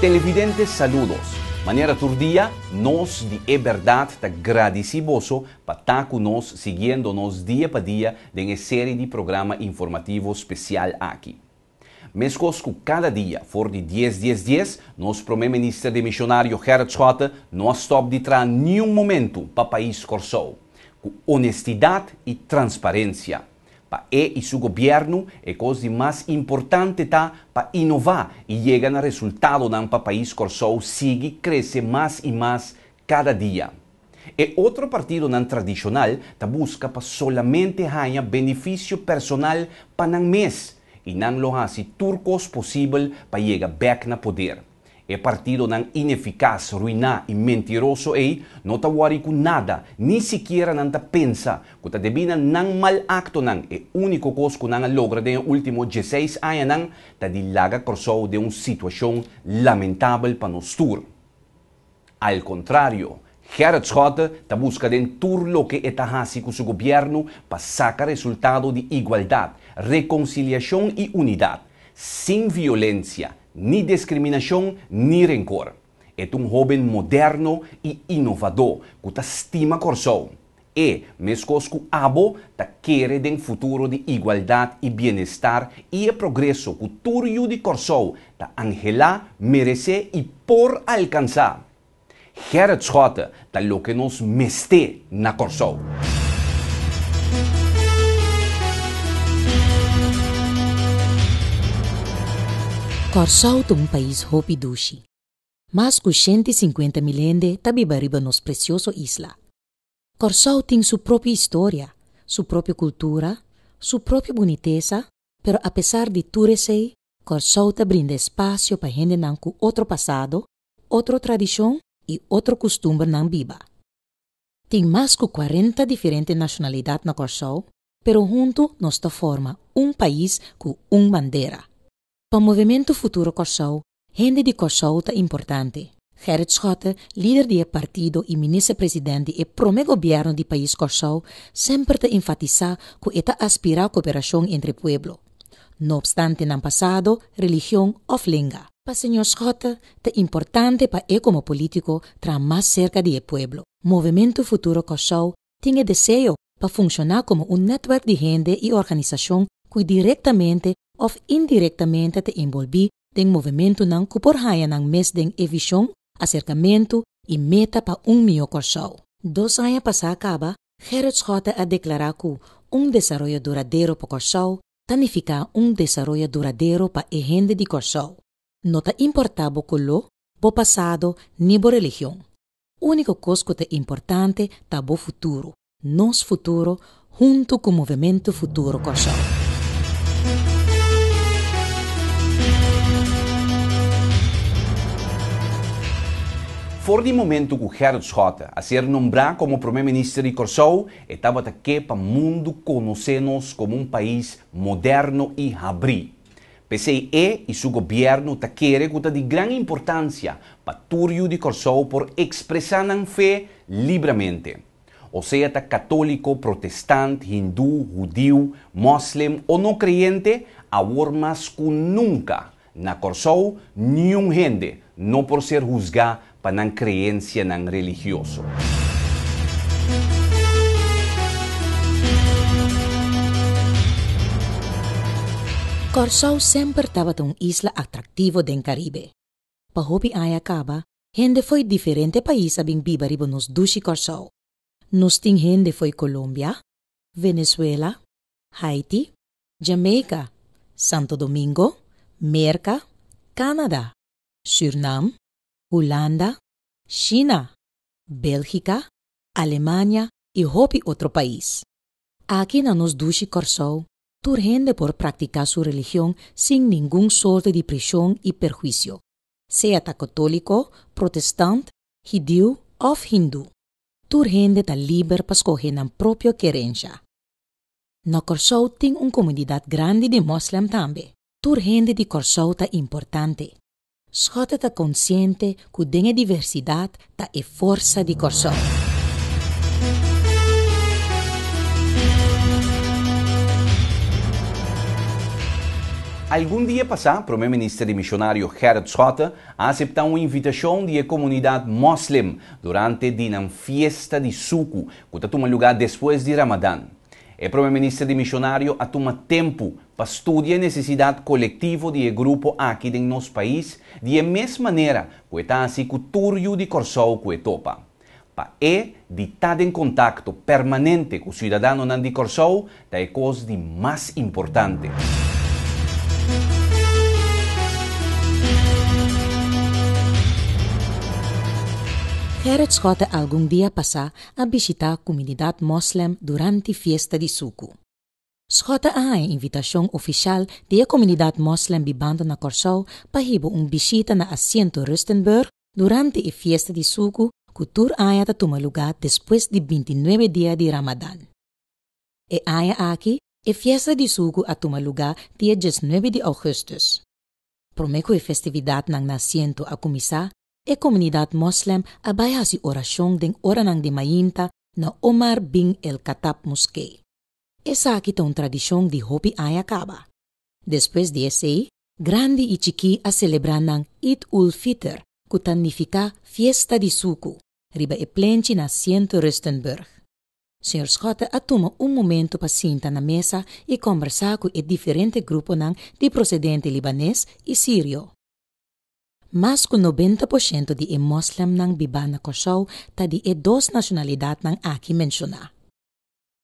Televidentes saludos. Manera tur dia, nos di e berdad ta gradici boso pa ta cu nos siguiendo nos dia pa dia den e serie di programa informativo special aki. Meskos ku kada dia, for di dies dies dies, nos Prome Minister di Mishonario Gerrit Schotte no a stòp di traha niun momentu pa pais Kòrsou. Ku onestidat i transparensia. Pa e i su gobièrnu, e kos di mas importante ta pa inová i yega na resultadonan pa pais Kòrsou sigui krese mas i mas kada dia. E otro partidonan tradishonal ta buska pa solamente haña benefisio personal pa nan mes i nan lo hasi tur kos posibel pa yega bèk na poder. E partidonan inefikas, ruiná i mentiroso ei no ta wòri ku nada, ni sikiera nan ta pensa ku ta debí na nan mal aktonan. E úniko kos ku nan a logra den e último dieseis añanan ta di laga Kòrsou den un situashon lamentabel pa nos tur. Al contrario, Gerrit Schotte ta busca den tur loke e ta haci cu su gobierno pa saca resultado di igualdad, reconciliacion y unidad, sin violencia, ni discriminacion ni rencor. E ta un hoben moderno y inovador cu ta stima Corsou. E meskos ku abo ta kere den futuro di igualdat i bienestar i e progreso ku tur yu di Kòrsou ta anhelá, meresé i por alkansá. Gerrit Schotte ta loke nos mester na Kòrsou. Kòrsou ta un pais hopi dushi. Mas ku shenti sinkuenta mil hende ta biba riba nos presioso isla. Kòrsou tin su propio historia, su propio kultura, su propio bunitesa, pero apesar di tur esei, Kòrsou ta brinda espasio pa hendenan ku otro pasado, otro tradishon i otro kustumbernan biba. Tin mas ku kuarenta diferente nashonalidat na Kòrsou, pero huntu nos ta forma un pais ku un bandera. Pa Movementu Futuro Kòrsou Hende di Kòrsou ta importante. Gerrit Schotte, lider di e partido i minister president di e promé gobièrnu di pais Kòrsou, semper ta enfatisá ku e ta aspirá koperashon entre pueblo, no opstante nan pasado, religion òf lenga. Pa señor Schotte ta importante pa e komo polítiko traha mas serka di e pueblo. Movementu Futuro Kòrsou tin e deseo pa funshoná komo un nètwerk di hende i organisashon ku direktamente òf indirektamente ta enbolbí den movementunan ku por haña nan mes den e vishon, aserkamentu i meta pa un mihó Kòrsou. Dos aña pasá kaba, Gerrit Schotte a deklará ku un desaroyo duradero pa Kòrsou ta nifiká un desaroyo duradero pa e hende di Kòrsou, no ta importá bo koló, bo pasado ni bo religion. Úniko kos ku ta importante ta bo futuro, nos futuro huntu ku Movementu Futuro Kòrsou. For di momentu ku Gerrit Schotte a ser nombrá komo Promé Minister di Kòrsou, e tabata ke pa mundu konosé nos komo un pais moderno i habrí. P'esei e i su gobièrnu ta kere ku ta di gran importansia pa tur yu di Kòrsou por ekspresá nan fe libramente. Osea ta katóliko, protestant, hindú, hudiu, mòslem o no kreyente, awor mas ku nunka na Kòrsou niun hende no por ser husgá pa nan kreensianan religioso. Kòrsou semper tabata un isla atraktivo den Karibe. Pa hopi aña kaba, hende fo'i diferente pais a bin biba riba nos dushi Kòrsou. Nos tin hende fo'i Kolombia, Venezuela, Haiti, Jamaica, Santo Domingo, Merka, Canada, Sürnam, Hulanda, Shina, Belgika, Alemania i hopi otro pais. Aki na nos dushi Kòrsou tur hende por praktiká su religion sin ningun sorte di prishon i perhuisio, sea ta kotóliko, protestant, hidiu òf hindú. Tur hende ta liber pa skohe nan propio kerensha. Na Kòrsou tin un komunidat grandi di mòslèm tambe. Tur hende di Kòrsou ta importante. Scott ta konsiente ku den e diversidat ta e forsa di Kòrsou. Algun dia pasá, Promé Minister di Mishonario Gerrit Scott a aseptá un invitashon di e komunidat Mòslem durante di nan fiesta di suku ku ta tuma lugá despues di Ramadan. E Promé Minister di Mishonario a tuma tempu pa studia e nesesidat kolektivo di e grupo aki den nos pais di e mes manera ku e ta hasi ku tur yu di Kòrsou ku e topa. Pa e di ta den kontakto permanente ku siudadanonan di Kòrsou ta e kos di mas importante. Gerrit Schotte algun dia pasá a bishitá kumunidat mòslèm durante fiesta di Suku. Sgota a haña invitashon ofishal di e komunidat mòslèm bibando na Kòrsou pa hiba un bishita na Asiento Rustenburg durante e fiesta di Suku ku tur aña ta tuma lugá despues di bintinuebe dia di Ramadan. E aña aki e fiesta di Suku a tuma lugá dia diesnuebe di Ougùstùs. Promé ku e festividatnan na Asiento a kuminsá, e komunidat mòslèm a bai hasi orashon den oranan di mainta na Omar bin el-Khattab Moskee. Esaki ta un tradishon di hopi aña kaba. Despues di esei, grandi i chikí a selebrá nan Eid ul Fitr, ku ta nifiká Fiesta di Suku, riba e plenchi na Sint Rustenburg. Señor Schotte a tuma un momentu pa sinta na mesa i kòmbersá ku e diferente gruponan di prosedente libanes i sirio. Mas ku nobenta por shento di e moslemnan bibá na Kòrsou ta di e dos nashonalidatnan aki menshoná.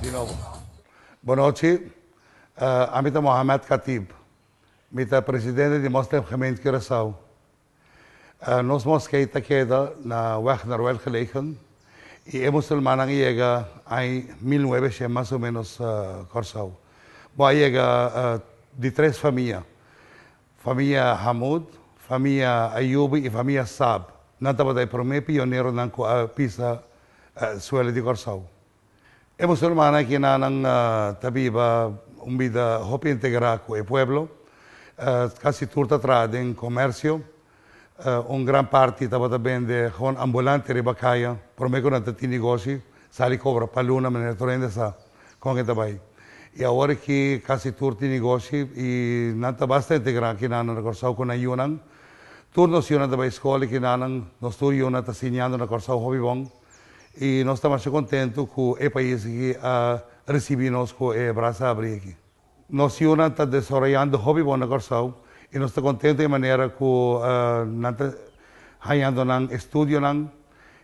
Di nobo. Bon nochi. Ami ta Mohamed Khatib. Mi ta presidente di Moslemgemeente Curaçao. Nos moskee ta keda na Weg Noruel gelegen i e musulmannan a yega aña mil nuebe shen mas o menos Kòrsou. Bo a yega di tres famia. Famia Hamoud, famia Ayoubi i famia Saab, nan tabata e promé pioneronan ku a pisa suelo di Kòrsou. E musulmannan aki na nan ta biba un bida hopi integrá ku e pueblo. Kasi tur ta traha den komèrsio. Un gran parti tabata bende hon ambulante riba kaya. Prome ku nan ta tin negoshi, sali kobra pa luna manera tur hende sa kon ke ta bai. I awor aki kasi tur tin negoshi i nan ta bastante gran aki na na Kòrsou ku nan yunan. Tur nos yunan ta bai skol i kinanan, nos tur yunan ta siñando na Kòrsou hopi bon. I nos ta masha kontentu ku e pais aki a risibí nos ku e brasa abrí aki. Nos yunan ta desaroyando hopi bon na Kòrsou i nos ta kontento e manera ku nan ta hañando nan estudionan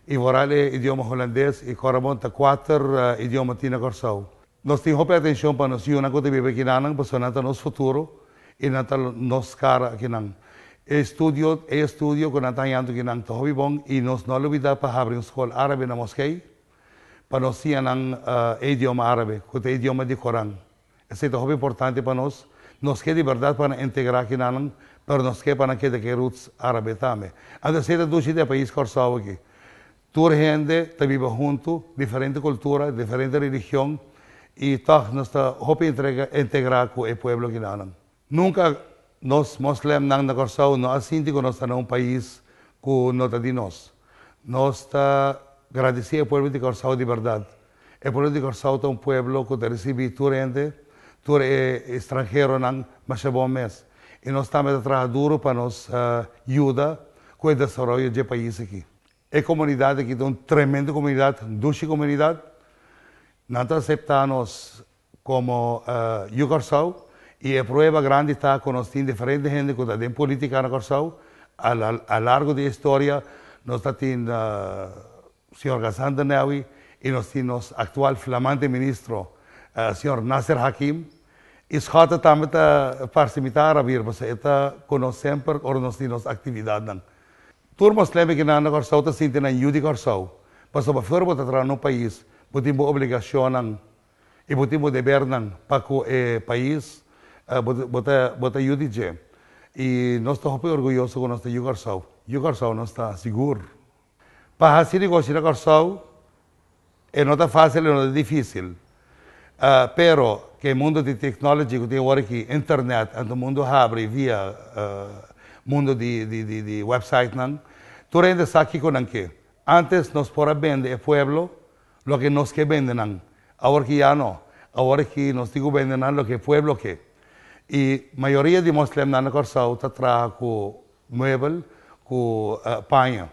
i voral e idioma hulandes i Korabon ta kuater idioma tin na Kòrsou. Nos tin hopi atenshon pa nos yunan ku ta biba aki nanan pasobra nan ta nos futuro i nan ta nos kara akinan. E estudio e estudio ku nan ta hañando aki nan ta hopi bon i nos no a lubidá pa habri un skol árabe na Moskei. pa nos siña nan e idioma árabe, ku ta e idioma di Koran. Esei ta hopi importante pa nos. Nos ke di bèrdat pa nan integrá kinanan, pero nos ke pa nan keda ku e roots árabe tambe. Anto esei ta dushi den e pais Kòrsou aki. Tur hende ta biba huntu, diferente kultura, diferente religion, i tòg nos ta hopi integrá ku e pueblo kinanan. Nunca nos moslemnan na Corsou no a sinti cu nos ta na un pais cu no ta di nos. Nos ta gradici e pueblo di Corsou di berdad. E pueblo di Corsou ta un pueblo cu ta ricibi tur hende, tur e stranheronan masha bon mes. Y nos tambe ta traha duro pa nos yuda cu e desaroyo dje pais aki. E comunidad aki ta un tremendo comunidad, dushi comunidad. Nan ta acepta nos. Komo Yu Kòrsou, i e prueba grandi ta ku nos tin diferente hende ku ta den politika na Kòrsou. A largo di e historia nos ta tin señor Gasan de Newi i nos tin nos aktual flamante ministro señor Nasser Hakim. I Schotte tambe ta parse mi ta arabir pasobra e ta ku nos semper ora nos tin nos aktividatnan. Tur moslembekinan na Kòrsou ta sinti nan yu di Kòrsou, pasobra afuera bo ta traha na un pais, bo tin bo obligashonnan I bo tin bo debernan pa ku e pais. Bo ta yu di dje. I nos ta hopi orguyoso ku nos ta yu Kòrsou. Yu Kòrsou nos ta sigur. Pa hasi negoshi na Kòrsou e no ta fasil e no ta difisil. Pero ku e mundu di technology ku tin awor aki, internet, anto mundu habri via mundu di websitenan, tur hende sa kiko nan ke. Antes nos por a bende e pueblo Loke nos ke bende nan. Awor ki ya no. Awor ki nos tin ku bende nan loke pueblo ke. I mayoria di moslemnan na Kòrsou ta traha ku muebel, ku paña.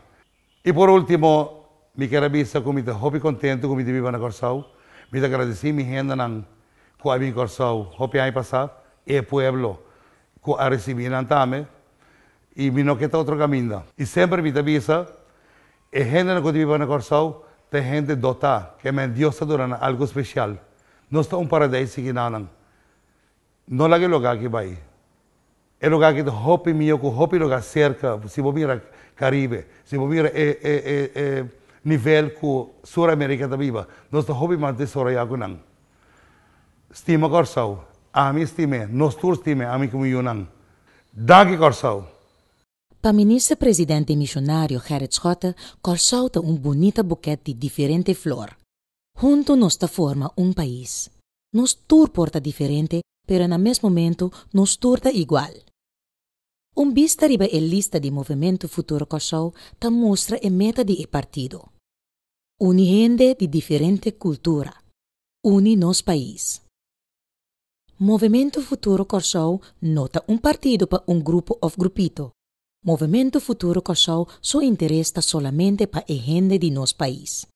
I por ultimo mi ker a bisa ku mi ta hopi kontentu ku mi di biba na Kòrsou. Mi ta gradisí mi hendenan ku a bin Kòrsou hopi aña pasá, e pueblo ku a risibí nan tambe. I mi no ke ta otro kaminda. I semper mi ta bisa E hendenan ku ta biba na Kòrsou ta e hende dotá, ke men Dios ta duna nan algu spesial. Nos ta un paradeis sigui na nan. No laga e lugá aki bai. E lugá aki ta hopi mihó ku hopi lugá serka. Si bo mira Karibe, si bo mira e e e e nivel ku Sur Amerika ta biba, nos ta hopi mas desoroyá ku nan. Stima Kòrsou. Ami stim'é. Nos tur stim'é, ami ku mi yunan. Danki Kòrsou. Pa Minister President den Misionario Gerrit Schotte, Kòrsou ta un bunita bukèt di diferente flor. Huntu nos ta forma un pais. Nos tur por ta diferente pero na mes momentu nos tur ta igual. Un bista riba e lista di Movimento Futuro Kòrsou ta mustra e meta di e partido, Uni hende di diferente kultura, uni nos pais. Movemento Futuro Kòrsou no ta un partido pa un grupo òf grupito. Movemento Futuro Kòrsou su interes ta solamente pa e hende di nos pais.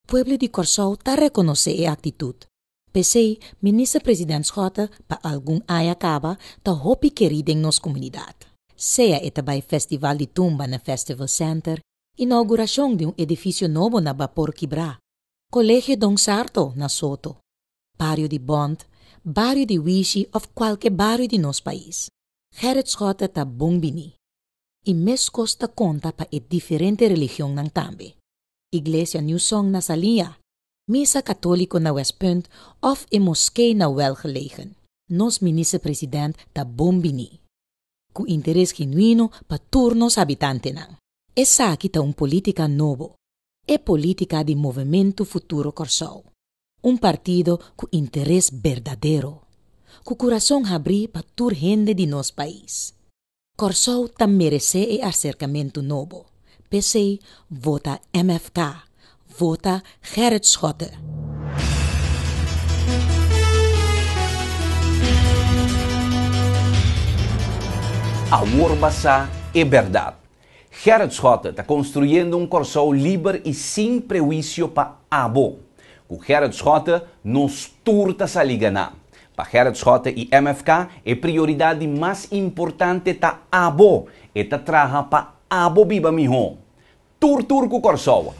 Pueblo di Kòrsou ta rekonosé e aktitut. P'esei, Minister President Schotte pa algun aña kaba ta hopi kerí den nos komunidat. Sea e ta bai Festival di Tumba na Festival Center, inaugurashon di un edifisio nobo na Bapor Kibrá, Kolegio Don Sarto na Soto, Bario di Bond, Bario di Wishi of cualke bario di nos pais. Gerrit Schotten ta bon bini. Y mescos ta conta pa e diferente religionnan tambe. Iglesia New Song na Salinja, Misa Catolico na West Punt of e Moskee na Welgelegen. Nos Minister President ta bon bini. Cu interes genuino pa tur nos habitantenan. Esaki ta un politica nobo. E politica di Movemento Futuro Corsou. Un partido cu interes berdadero, cu curason habri pa tur hende di nos pais. Corsou ta merece e acercamento nobo, p'esey vota MFK, vota Gerrit Schotte. Awor basa e berdad. Gerrit Schotte ta konstruyendo un Kòrsou liber i sin prehuisio pa abo. Ku Gerrit Schotte, nos tur ta sali ganá. Pa Gerrit Schotte i MFK, e prioridat di mas importante ta abo, e ta traha pa abo biba mihó. Tur tur ku Kòrsou!